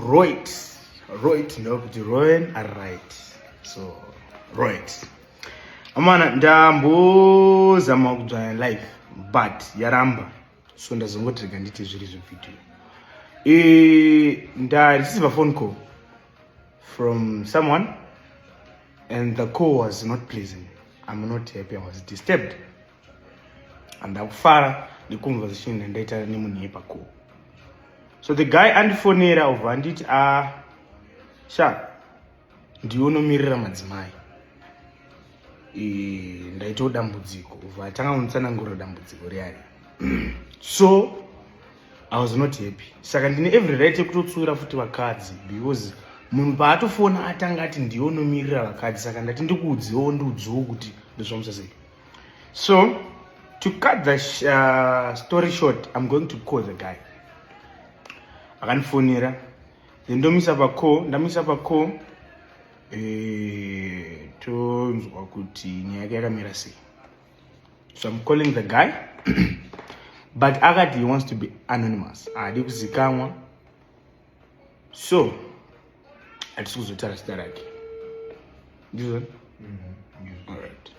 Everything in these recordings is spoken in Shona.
Roit. Roit ndava kuti roen ari right. So roit. Amana ndambozama kudzvanya life but yaramba so ndazongoti rega nditi zviri zvevideo. E, ndareceiva phone call from someone and the call was not pleasing. I'm not happy, I was disturbed. andakufara neconversation yandaita nemunhu yepa ko so the guy andifonera ubva anditi a ah, sha ndiwe unomirira madzimai ndaitawo dambudziko ubva atanga kunditsanangura dambudziko riari so i was not happy saka ndine every right yekutotsiura futi vakadzi because munhu paatofona atanga ati ndiwe unomirira vakadzi saka ndati ndikuudziwo ndiudziwo kuti ndozvamusasei So, to cut the uh, story short, I'm going to call the guy. Akandifonera. Then ndomisa pa call, ndamisa pa call. Eh, tonzwa kuti nyaya yake yakamira sei. So I'm calling the guy. but akati he wants to be anonymous. Haadi kuzikamwa. so hatisi kuzotaura zita rake ndizvo mm-hmm. alright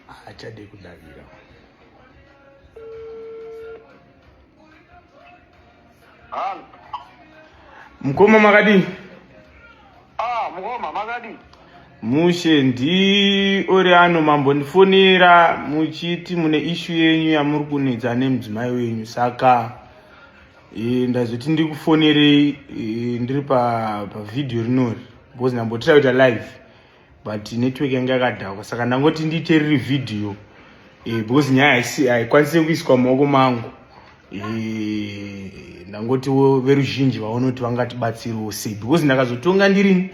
haachade kudavira mkoma makadini Ah, mukoma makadii? Mushe ndi uri ano mambondifonera muchiti mune ishu yenyu yamuri kunetsa nemudzimai wenyu saka e, ndazoti ndikufonerei e, ndiri pavhidhiyo pa rinori because ndambotira kuita live but network yange yakadhakwa saka ndangoti ndiite riri vhidhiyo e, because nyaya haikwanise kuiswa mumaoko mangu Eh, ndangotiwo veruzhinji vaonoti vangatibatsiriwo sei because ndakazotonga ndirini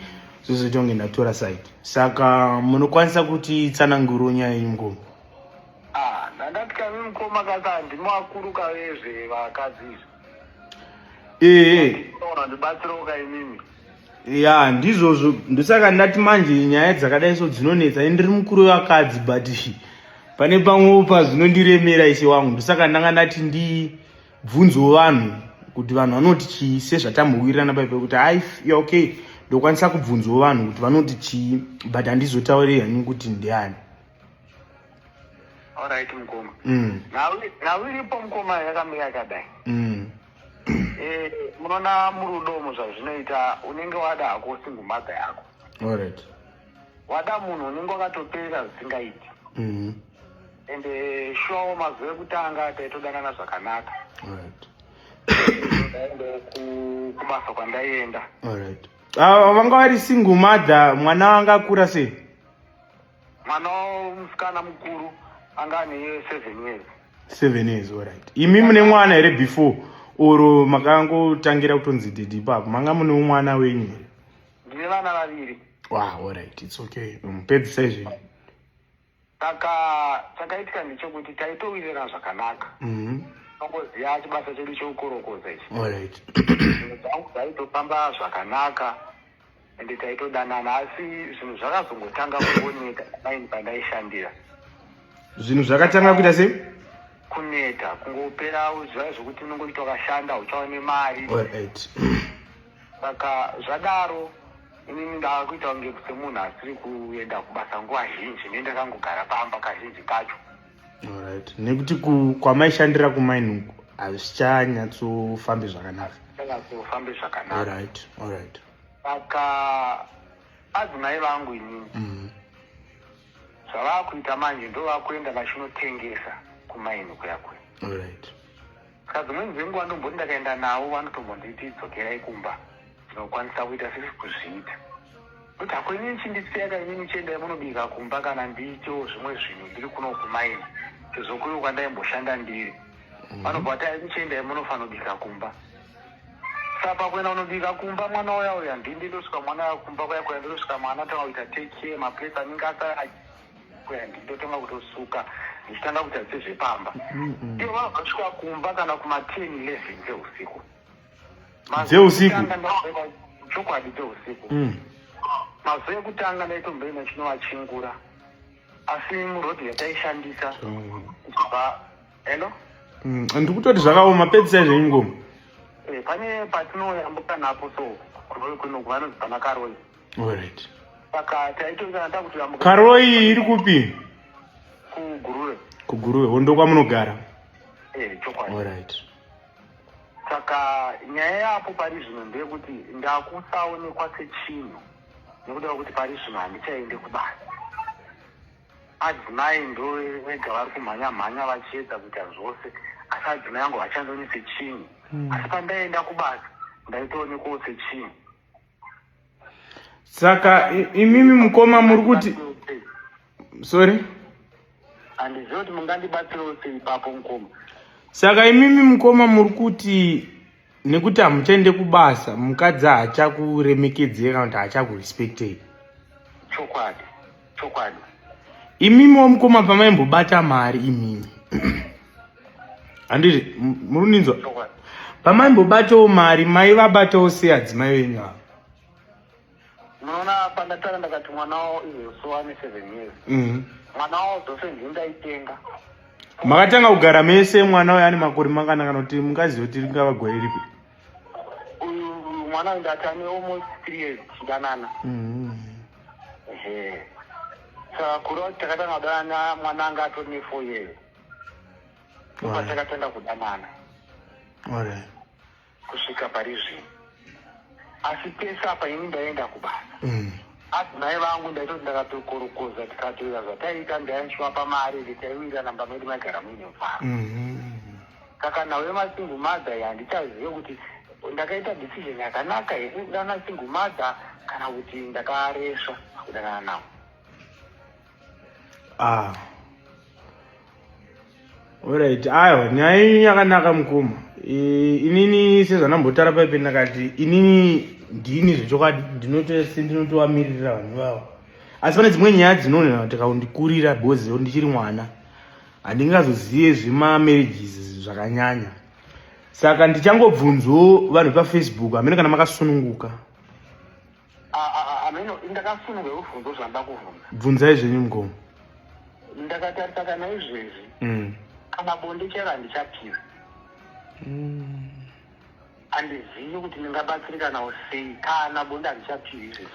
zvozotonge ndatora side saka munokwanisa kuti tsananguro nyaya yenyu mukoma ah, ndandatya mi mukoma kaka handimo vakuru kavezve vakadzi izvi ee eh, eh. ndibatsiroka imimi ya ndizvozvo ndosaka ndati manje nyaya dzakadai so dzinonetsa ini ndiri mukuru wevakadzi but pane pamwewo pazvinondiremera ishe wangu ndosaka ndanga ndati ndibvunzewo vanhu kuti vanhu vanoti chii sezvatambowirirana pai pekuti hai okay ndokwanisa kubvunzawo vanhu kuti vanoti chii but handizotaurei hanyu kuti ndiani alright mukoma mm. nhau iripo mukoma yakamira yakadai mm. eh, munoona murudo mu zvazvinoita unenge wada hako single mother yako alright wada munhu unenge wakatoperera zvisingaiti mhm. and eh, shuwa mazuva ekutanga taitodanana zvakanaka alright kubasa kwandaienda alright ah, vanga vari single mother mwana wanga akura sei mwana musikana mukuru anga ane seven years seven years alright imi mune mwana here before or makangotangira kutonzi didi ipapo manga mune umwana wenyu here ndine vana vaviri wa alright its okay mupedzisa izvi saka chakaitika ndechekuti taitowirira zvakanaka mm-hmm. tongoziva chibasa chedu chekukorokoza ichi dzangu dzaitofamba zvakanaka ende taitodanana asi zvinhu zvakazongotanga kuoneka paini pandaishandira zvinhu zvakatanga kuita sei kuneta kungopera zviya zvekuti unongoita wakashanda uchaone mari saka zvadaro inini ndava kuita kunge semunhu asiri kuenda kubasa nguva zhinji ne ndakangogara pamba kazhinji kacho Alright. Nekuti kwamaishandira kumaini uko hazvichanyatsofambi zvakanaka. Hazvichanyatsofambi zvakanaka. Alright. Alright. Saka adzimai vangu inini. Mm. Zvavakuita manje ndovakuenda vachinotengesa kumaini kuya kuya. Alright. Saka dzimweni dzenguva ndomboti ndakaenda navo vanotombonditi dzokerai kumba ndinokwanisa kuita sisi kuzviita kuti hako inini chindisiyaka inini chiendai munobika kumba kana ndiitewo zvimwe zvinhu ndiri kuno kumaini tizokuri kwandaimboshanda ndiri mhm. vanobva vati aikuchiendai munofanobika kumba sapa kuenda unobika kumba mwana uya uya ndindi ndosvika mwana uya kumba kuya kuya ndosvika mwana tanga kuita take care maplace anenge asara kwendi ndotanga kutosuka ndichitanga kuita sezvepamba ivo vakasvika kumba kana kuma10 11 dzeusiku dzeusiku chokwadi dzeusiku mm. mazuva ekutanga ndaitomboenda chinovachingura asi murodhi yataishandisa kubva hello mm, ndiri kutoti zvakaoma pedzisai zvenyu ngoma eh, pane patinooyambuka napo so kunokuvanonzi panakaroi Alright. Saka taitongana takuti vamuka. Karo iyi iri kupi? Kuguruwe. Kuguruwe. Hondo kwamunogara. Eh, chokwadi. Alright. Saka nyaya yapo pari zvino ndeyekuti ndakusaonekwa sechinhu nekuda kwekuti pari zvino handichaende kubasa. Adzimai ndo vega vari kumhanya mhanya vachiedza kuita zvose asi adzimai angu vachandoone sechinhu. Hmm. Asi pandaenda kubasa ndaitoonekwawo sechinhu. saka imimi mukoma muri kuti sorry handiziva kuti mungandibatsirawo sei papo mukoma saka imimi mukoma muri kuti nekuti hamuchaende kubasa mukadzi hachakuremekedzei kana kuti hachakurespectei chokwadi chokwadi imimi wamukoma pamaimbobata mari imimi handiti muri kundinzwa pamaimbobatawo mari mai vabatawo sei adzimai venyu ava munoona pandatanga ndakati mwana wawo izoso ane seven years mhm. mwana wawo dzose ndindaitenga makatanga kugara mese mwana uyo ane makore manganaka nokuti mungaziva kuti ringava gore ripi uyu mwana uyu ndati ane almost three years tichidanana ehe saka kuri kuti takatanga kudanana mwana anga atori nefour years ndopa takatanga kudanana kusvika pari zvino asi pese apa ini ndaienda kubasa mm. asi mai vangu ndaitoti ndakatokorokoza tikatoira zvataiita ndainshuwa pamari nditaiwira namba medi maigara muine mfaro mm-hmm. Saka nawe masingle mother ya ndichazive kuti ndakaita decision yakanaka here kudana single mother kana kuti ndakaresva kudanana nawo. Ah. Alright, aiwa nyaya iyi yakanaka mukoma. E, inini sezvandambotara paipe ndakati inini ndini zvechokwadi ndinotose ndinotovamirira vanhu vavo asi pane dzimwe nyaya dzinoona tikaundikurira bhozi ndichiri mwana handingazozive zvemamarriages zvakanyanya saka ndichangobvunzwo vanhu vepafacebook hamene kana makasununguka bvunzai zvenyu mgomo ndakatarisa kana izvezvi mm. kana bonde chero handichapira mm. handizivi kuti ndingabatsirikanawo sei kana bonde handichapiri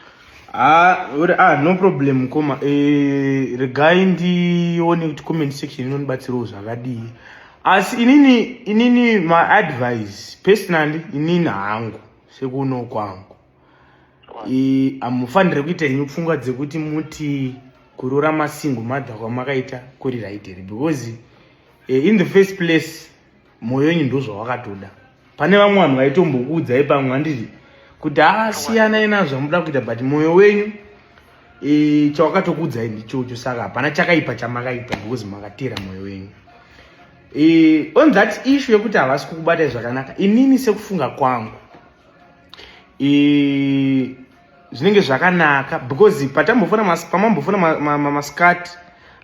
Ah, uri ah no problem mukoma eh, regai ndione kuti comment section inondibatsirawo zvakadii asi inini inini my advice personally inini hangu sekuno kwangu hamufanire kuita henyu pfungwa dzekuti muti kurora masingo madha kwamakaita kuri right here because eh, in the first place moyo wenyu ndozvawakatoda pane vamwe vanhu vaitombokuudzai pamwe handiti kuti asiyanai nazvo amuda kuita but moyo wenyu e, chawakatokuudzai ndichocho saka hapana chakaipa chamakaita because makatera moyo wenyu e, on that issue yekuti havasi kukubatai zvakanaka inini sekufunga kwangu zvinenge zvakanaka because patambofona pamambofona maskati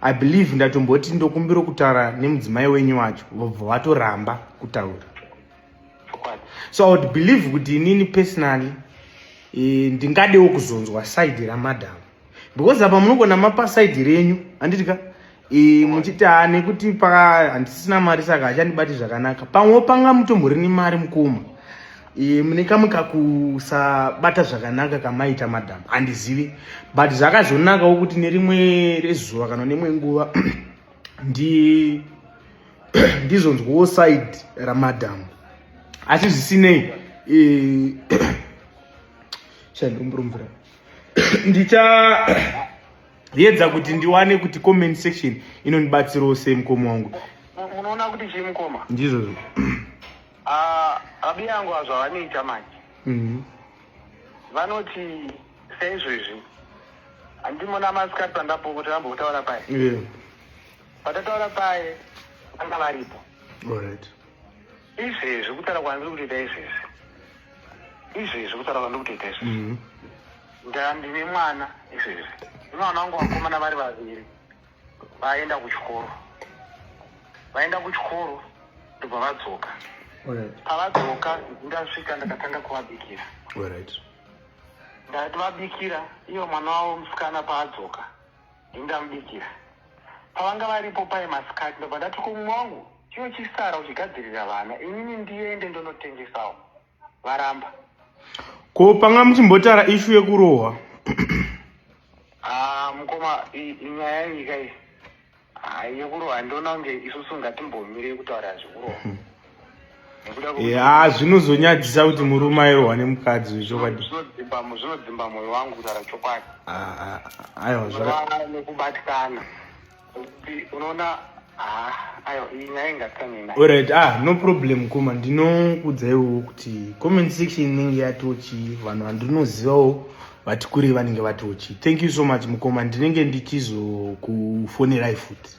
i believe ndatomboti ndokumbira kutaura nemudzimai wenyu wacho vobva vatoramba kutaura so i would believe kuti inini personally eh, ndingadewo kuzonzwa side ramadam because apa munogona mapa side renyu handiti ka muchiti ha nekuti pa handisisina mari saka hachandibati zvakanaka pamwe panga mutomborini mari mukoma mune kamwe kakusabata zvakanaka kamaita madam handizivi but zvakazonakawo kuti nerimwe rezuva kana nemwe nguva ndi ndizonzwawo side ramadam asi zvisinei shandomburumvira ndichayedza kuti ndiwane kuti comment section inondibatsirawo sei mukoma wangu munoona kuti chii mukoma ndizvozvo ah, abi yangu azvavanoita manje mhm. vanoti seizvezvi handimona masikati pandapo kuti vambotaura paye patataura paye vanga varipo izvezvi kutaura kwandiri kutoita izvezvi izvezvi kutaura kwandiri kutoita izvezvi mhm. ndandine mwana izvezvi imwana wangu vakomana vari vaviri vaenda kuchikoro vaenda kuchikoro ndobva vadzoka pavadzoka ndasvika ndakatanga kuvabikira ndati vabikira iyo mwana wavo musikana paadzoka Ndingamubikira. Pavanga varipo paye masikati ndobva ndati kumwe wangu chiyo chisara uchigadzirira vana inini ndiende ndonotengesawo varamba ko panga muchimbotara ishu yekurohwa ah, mukoma nyaya yenyika iyi ah, yekurohwa ndoona kunge isusu ngatimbomirei kutaura zvekurohwa hmm. haa eh, zvinozonyadzisa kuti murume airohwa nemukadzi zvechokwadi zvinodzimba mwoyo wangu kutaura chokwadi ah, ah, ah, aiwa nekubatikana unoona orit ah no problem kuma ndinokuudzaiwo kuti comment section inenge yatochi vanhu vandinozivawo vati kurei vanenge vatochi thank you so much mukoma ndinenge ndichizokufonerai futi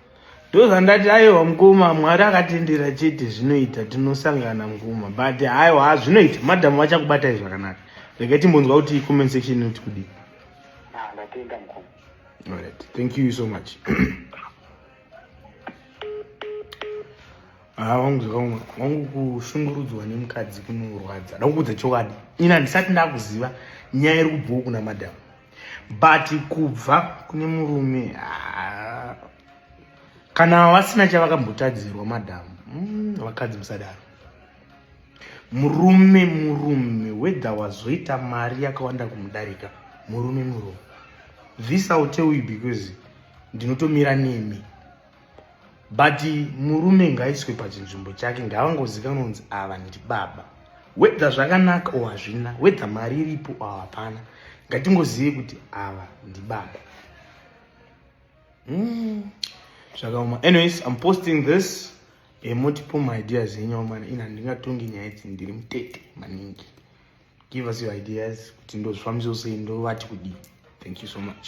ndozvandati aiwa mkoma mwari akatendera chete zvinoita tinosangana mkoma but aiwa ha zvinoita madhamu vachakubatai zvakanaka rega timbonzwa kuti comment section inoti kudii ah, alright thank you so much haa ah, wangu zvakaoma wangu kushungurudzwa nemukadzi kunorwadza ndakuudza chokwadi ini handisati ndakuziva nyaya iri kubvawo kuna madhamu but kubva kune murume ah, kana vasina chavakambotadzirwa madhamu mm, vakadzi musadaro murume murume wedha wazoita mari yakawanda kumudarika murume murume this ill tell you because ndinotomira nemi but murume ngaiswe pachinzvimbo chake ngavangozikanonzi ava ndi baba wedha zvakanaka o hazvina wedha mari iripo o hapana ngatingozive kuti ava ndi baba hmm, zvakaoma mm. anyways im posting this emotipo eh, maideas enyu amana ini handingatongi nyaya idzi ndiri mutete maningi give us your ideas kuti ndozvifambisosei ndovati kudii thank you so much